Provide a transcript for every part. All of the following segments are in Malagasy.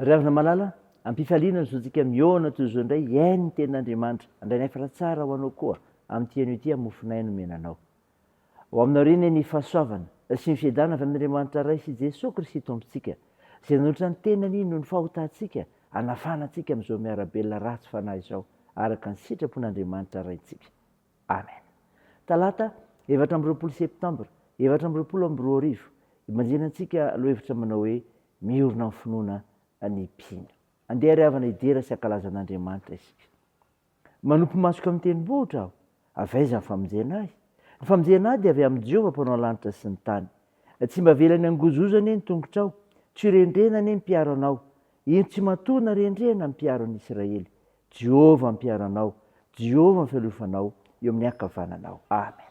Ry havana malala, am-pifaliana ny zontsika mihaona toy izao indray hihaino ny tenin'Andriamanitra, Andrain'Efra tsara ho anao koa amin'ity anio ity mofon'aina nomena anao. Ho aminao re anie ny fahasoavana sy ny fiadanana avy amin'Andriamanitra Ray sy Jesoa Kristy Tompontsika, izay nanolotra ny tenany noho ny fahotantsika hanafahana antsika amin'izao miara-belona ratsy fanahy izao, araka ny sitrapon'Andriamanitra Raintsika. Amen. Talata, efatra amby roapolo Septambra efatra amby roapolo amby roa arivo, ibanjinantsika lohahevitra manao hoe Miorina amin'ny finoana ny mpino. Andeha ary havana hidera sy hankalaza an'Andriamanitra isika. Manopy masoka amin'ny tenibohitra aho. Avy aiza ny famonjena ahy? Ny famonjena ahy dia avy amin'i Jehovah Mpanao ny lanitra sy ny tany. Tsy mba avelany hangozohozo anie ny tongotrao, tsy ho rendrena anie ny mpiaro anao. Indro tsy matoa na rendrena ny mpiaro an'i Israely. Jehovah mpiaro anao, Jehovah ny fialofanao eo amin'ny ankavananao. Amena.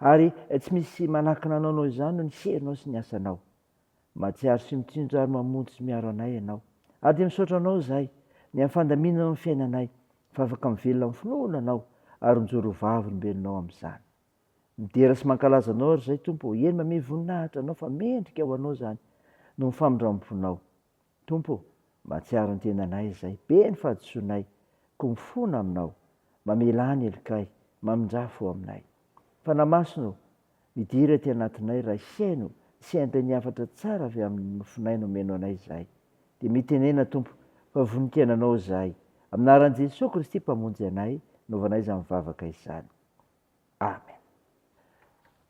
Ary tsy misy manakana anao noho izany noho ny herinao sy ny asanao. Mahatsiaro sy mitsinjo ary mamonjy sy miaro anay Ianao. Ary dia misaotra Anao izahay, ny amin'ny fandaminanao ny fiainanay, fa afaka mivelona amin'ny finoana Anao, ary mijoro ho Vavolombelonao amin'izany. Midera sy mankalaza Anao ary izahay, Tompo ô, eny mamehy voninahitra Anao, fa mendrika ho Anao izany, noho ny famindram-ponao. Tompo ô, mahatsiaro ny tenanay izay be ny fahadisoanay, koa mifona Aminao, mamelà ny helikay, mamindrà fo aminay. Fanahy Masina ô, midira ety anatinay raha hihaino sy hiampy ny hafatra tsara avy amin'ny nofinay nomeno anay izahay. Dia mitenena, Tompo, fa voninkaina Anao izahay. Amin'ny anaran'i Jesoa Kristy Mpamonjy anay, novanay izany vavaka izany. Amen.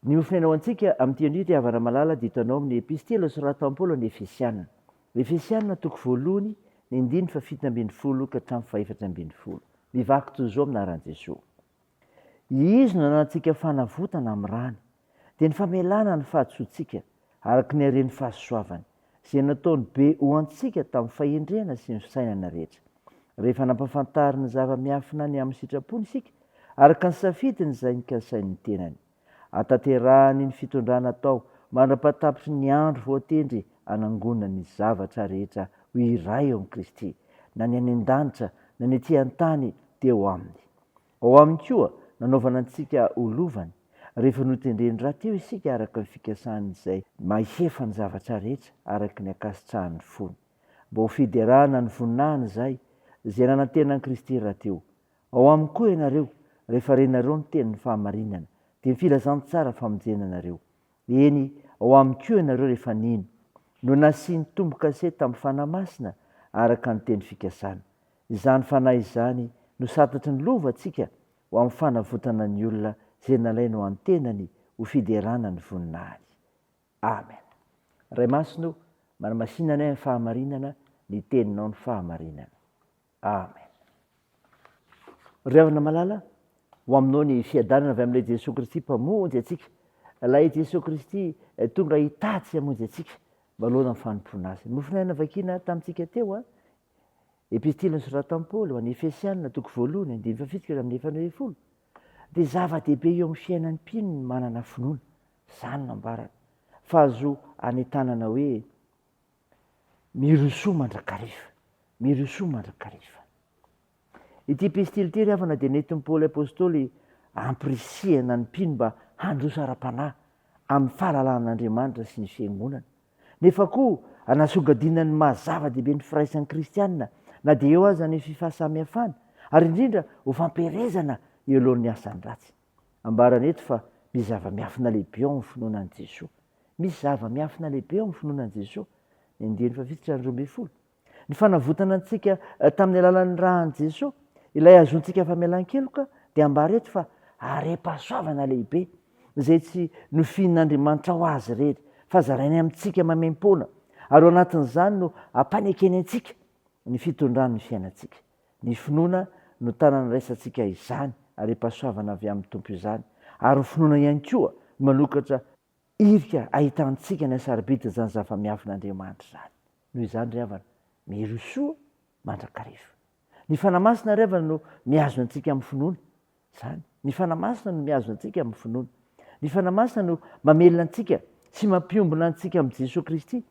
Ny hofonenao antsika amin'ity andro ity havana malala dia hitanao amin'ny epistila soratan'i Paoly ho an'ny Efesiana. Efesiana toko voalohany ny andininy fahafito ambin'ny folo ka hatramin'ny fahefatra ambin'ny folo. Mivaky toy izao amin'ny anaran'i Jesoa. Izy no nanantsika fanavotana amin'ny rany. dia ny famelana ny fahadisoantsika araka ny haren'ny fahasoavany, izay nataony be ho antsika tamin'ny fahendrena sy ny fisainana rehetra. Rehefa nampafantariny zava-miafina ny amin'ny sitrapony isika, araka ny safidiny izay nikasainy ny tenany. Hatanterahany ny fitondrana atao mandra-pahatapitry ny andro voatendry hanangonany ny zavatra rehetra ho iray ao amin'i Kristy, na ny any an-danitra na ny ety an-tany dia ho aminy. Ao Aminy koa nanaovana antsika ho lovany, rehefa notendreny rahateo isika araka ny fikasan' Izay Mahefa ny zavatra rehetra araka ny ankasitrahan' ny fony, mba ho fiderana ny voninahiny Izay Izay nanantena an'i Kristy rahateo. Ao Aminy koa ianareo, rehefa renareo ny tenin'ny fahamarinana, dia ny filazantsara famonjena anareo. Eny, ao Aminy koa ianareo rehefa nino, no nasian'ny Tompo-kase tamin'ny Fanahy Masina araka ny teny fikasana. Izany Fanahy izany no satatry ny lova ntsika ho amin'ny fanavotana ny olona izay nalainy ho an-tenany ho fiderana ny voninahiny. Amen. Ray Masina o, manamasina anay amin'ny fahamarinana ny Teninao ny fahamarinana. Amen. Ry havana malala, ho aminao ny fiadanana avy amin'ilay Jesoa Kristy Mpamonjy antsika. Ilay Jesoa Kristy tonga hitady sy hamonjy antsika manoloana ny fanompoana Azy. Ny mofon' aina vakina tamintsika teo, Epistily nosoratan'i Paoly ho an'ny Efesianina, toko voalohany, andininy fahafito ka hatramin'ny efatra ambin'ny folo, dia zava-dehibe eo amin'ny fiainan'ny mpino ny manana finoana. Izany no ambarany fa azo anentanana hoe, Mirosoa mandrakariva! Mirosoa mandrakariva! Ity epistily ity ry havana dia nentin'i Paoly apostoly hampirisihana ny mpino mba handroso ara-panahy amin'ny fahalalan'Andriamanitra sy ny fiangonana, nefa koa hanasongadinana ny maha zava-dehibe ny firaisan'ny kristiana na dia eo aza ny fifahasamihafana, ary indrindra ho fampiherezana eo alohan'ny asany ratsy. Ambarany eto fa misy zava-miafina lehibe ao amin'ny finoana an'i Jesoa. Misy zava-miafina lehibe ao amin'ny finoana an'i Jesoa, ny andiany fahafito sy ny roa ambin'ny folo. Ny fanavotana antsika tamin'ny alalan'ny ra an'i Jesoa, ilay azontsika famelan-keloka, dia ambara eto fa harem-pahasoavana lehibe, izay tsy nofihin'Andriamanitra ho azy irery, fa zarainy amintsika maimaim-poana, ary ao anatin'izany no ampanekeny antsika ny fitondran'ny fiainantsika. Ny finoana no tana niraisantsika izany harem-pahasoavana avy amin'ny Tompo izany, ary ho finoana ihany koa manokatra Irika ahitantsika ny hasarobidy izany zava-miafin' Andriamanitra izany. Noho izany ry havana, mirosoa mandrakariva. Ny Fanahy Masina ry havana no mihazona antsika amin'ny finoana. Izany. Ny Fanahy Masina no mihazona antsika amin'ny finoana. Ny Fanahy Masina no mamelona antsika sy mampiombona antsika amin'i Jesoa Kristy,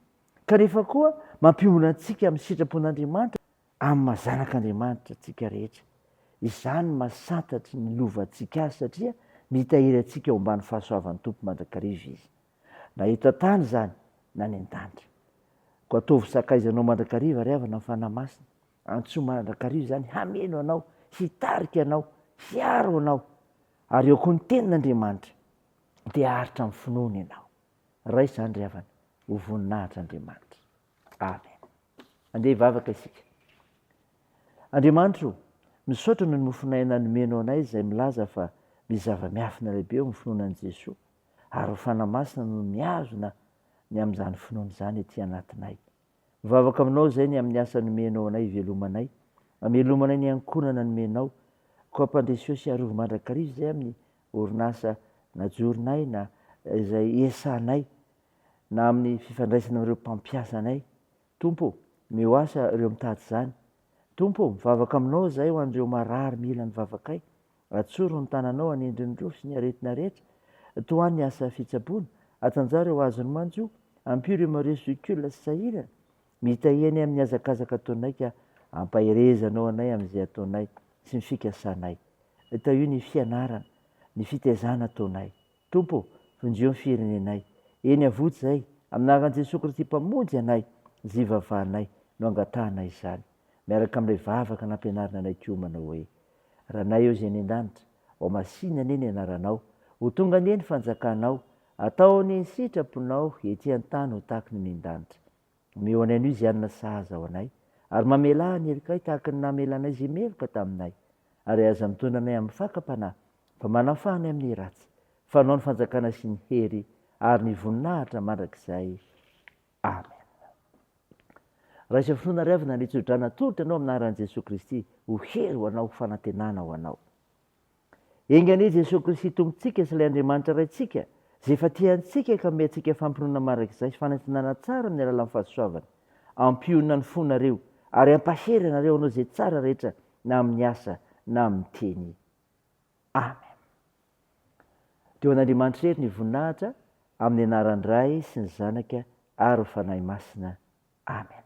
kanefa koa mampiombona antsika amin'ny sitrapon' Andriamanitra. Amin'ny maha zanak'Andriamanitra antsika rehetra, izany no maha santatry ny lovantsika azy satria mitahiry antsika ao ambany fahasoavan'ny Tompo mandrakariva izy, na eto an-tany izany na any an-danitra. Koa ataovy sakaizanao mandrakariva ry havana ny Fanahy Masina, antsoy mandrakariva izany hameno anao, hitarika anao, hiaro anao, ary eo koa ny Tenin'Andriamanitra dia haharitra amin'ny finoana ianao. Raiso izany ry havana, ho voninahitra Andriamanitra. Amen. Andeha hivavaka isika. Andriamanitra o, misaotra noho ny mofon'aina nomenao anay izay milaza fa misy zava-miafina lehibe eo amin'ny finoana an'i Jesoa ary ho fanahy masina no mihazona ny amin'izany finoana izany ety anatinay. Mivavaka aminao izay ny amin'ny asa nomenao anay hivelomanay, hamelomanay ny ankohonana nomenao, koa ampandreseo sy arovy mandrakariva izay amin'ny orinasa najoronay na izay iesahanay na amin'ny fifandraisana amin'ireo mpampiasanay. Tompo ô, omeo asa ireo mitady izany. Tompo ô, mivavaka Aminao izahay ho an'ireo marary mila ny vavakay. Atsoro ny tananao hanendry ny rohy sy ny aretina rehetra. Tohano ny asa fitsaboana. Atanjaho ireo azon'ny manjo. Ampio ireo mareso zokiolona sy sahirana. Mitahia anay amin'ny hazakazaka ataonay ka ampaherezanao anay amin'izay ataonay sy ny fikasanay. Tahio ny fianarana, ny fitaizana ataonay. Tompo ô, vonjeo ny firenenay. Eny avotsy izay, amin'ny anaran'i Jesoa Kristy Mpamonjy anay, izay ivavahanay no angatahanay izany, miaraka amin'ilay vavaka nampianarina anay kiomana hoe, Ranay ô izay any an-danitra, ao masìna anie ny anaranao, ho tonga anie ny fanjakanao, atao anie ny sitraponao ety an-tany ho tahaka ny any an-danitra. Omeo anay anio izay hanina sahaza ho anay, ary mamelà ny herikay tahaka ny namelanay izay meloka taminay, ary aza mitondra anay amin'ny fakam-panahy, fa manafaha anay amin'ny ratsy, fa anao ny fanjakana sy ny hery ary ny voninahitra mandrakizay. Amen. Raiso finoana ry havana ny tso-drano atolotra anao amin'ny anaran'i Jesoa Kristy ho hery ho anao, ho fanantenana ho anao. Enga anie Jesoa Kristy Tompontsika sy ilay Andriamanitra Raintsika izay efa tia antsika ka hanome antsika fampinoana marak'izay sy fanantenana tsara amin'ny alalan'ny fahasoavany. Ampionona ny fonareo ary ampahery anareo hanao izay tsara rehetra na amin'ny asa na amin'ny teny. Amen. Dia ho an'Andriamanitra irery ny voninahitra amin'ny anaran'ny Ray sy ny Zanaka ary ny Fanahy Masina. Amen.